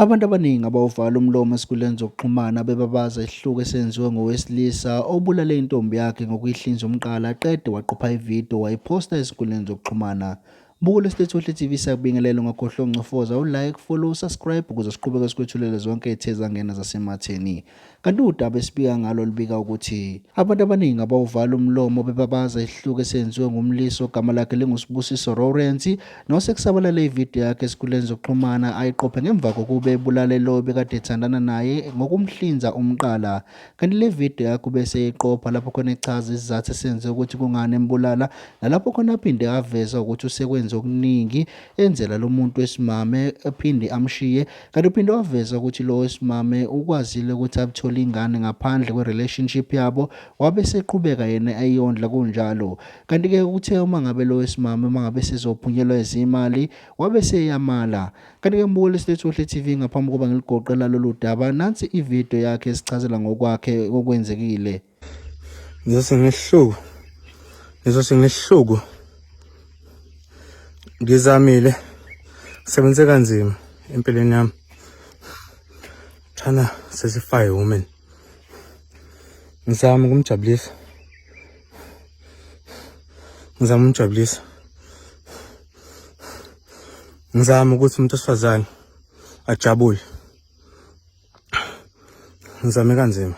Abantu abaningi abawuvala umlomo ezinkundleni zokuxhumana bebabaza isihluku esenziwe ngowesilisa obulale intombi yakhe ngokuyihlinza umqala aqede waqopha ividiyo wayiphosta ezinkundleni zokuxhumana. Buka lesitethu wehle TV sakubingelela ungakhohlwa uncofoza ulike, follow, subscribe ukuze siqhubeke sikwethulela zonke ezithe zangena zasematheni. Kanti udaba esibika ngalo lubika ukuthi abantu abaningi abawuvala umlomo bebabaza isihluku esenziwe ngumlisi ogama lakhe linguSibusiso Lawrence nosekusabalale ividiyo yakhe esikhuleni zokuxhumana ayiqophe ngemva kokube ebulale lowo bekade ethandana naye ngokumhlinza umqala kanti le vidiyo yakhe ubese eyiqopha lapho khona echaza isizathu esenze ukuthi kungani embulala nalapho khona aphinde aveza ukuthi usekwenze okuningi enzela lo muntu wesimame aphinde amshiye Kanti uphinde waveza ukuthi lo wesimame ukwazile ukuthi abuthole ingane ngaphandle kwe-relationship yabo wabe seqhubeka yena eyondla kunjalo. Kanti-ke uthe uma ngabe lo wesimame uma ngabe sezophunyelwa izimali wabe seyamala. Kanti-ke mbukeli silethu Ohle TV ngaphambi kokuba ngiligoqe lalolu daba nansi ividiyo yakhe esichazela ngokwakhe okwenzekile. ngizose ngihluku ngizose ngihluku ngizamile sebenze kanzima empilweni yami thana sesifire woman ngizama ukumjabulisa ngizama ukumjabulisa ngizama ukuthi umuntu osifazane ajabule ngizame kanzima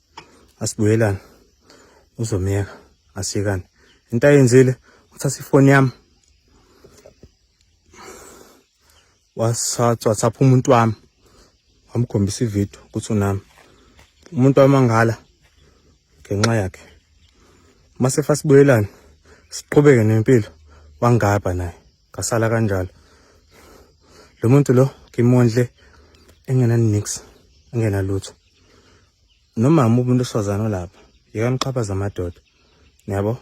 asibuyelane uzomyeka asiyekane into ayenzile uthatha ifoni yami wasathathapha umuntu wami wamkhombisa ividiyo ukuthi unami umuntu wamangala ngenxa yakhe mase fasibuyelane siqhubeke nempilo wangaba naye ngasala kanjalo lo muntu lo ngimondle engena nix engena lutho nomama umuntu oswazana olapha yekani uxhaphaza amadoda niyabo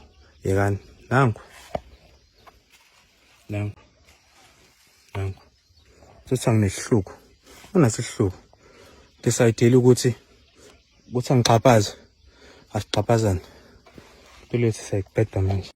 yekani nangu nangu nangu sothi anginehluko unasihluko decidele ukuthi ukuthi angixhaphaze asixhaphazane impilo yethu siyayibheda manje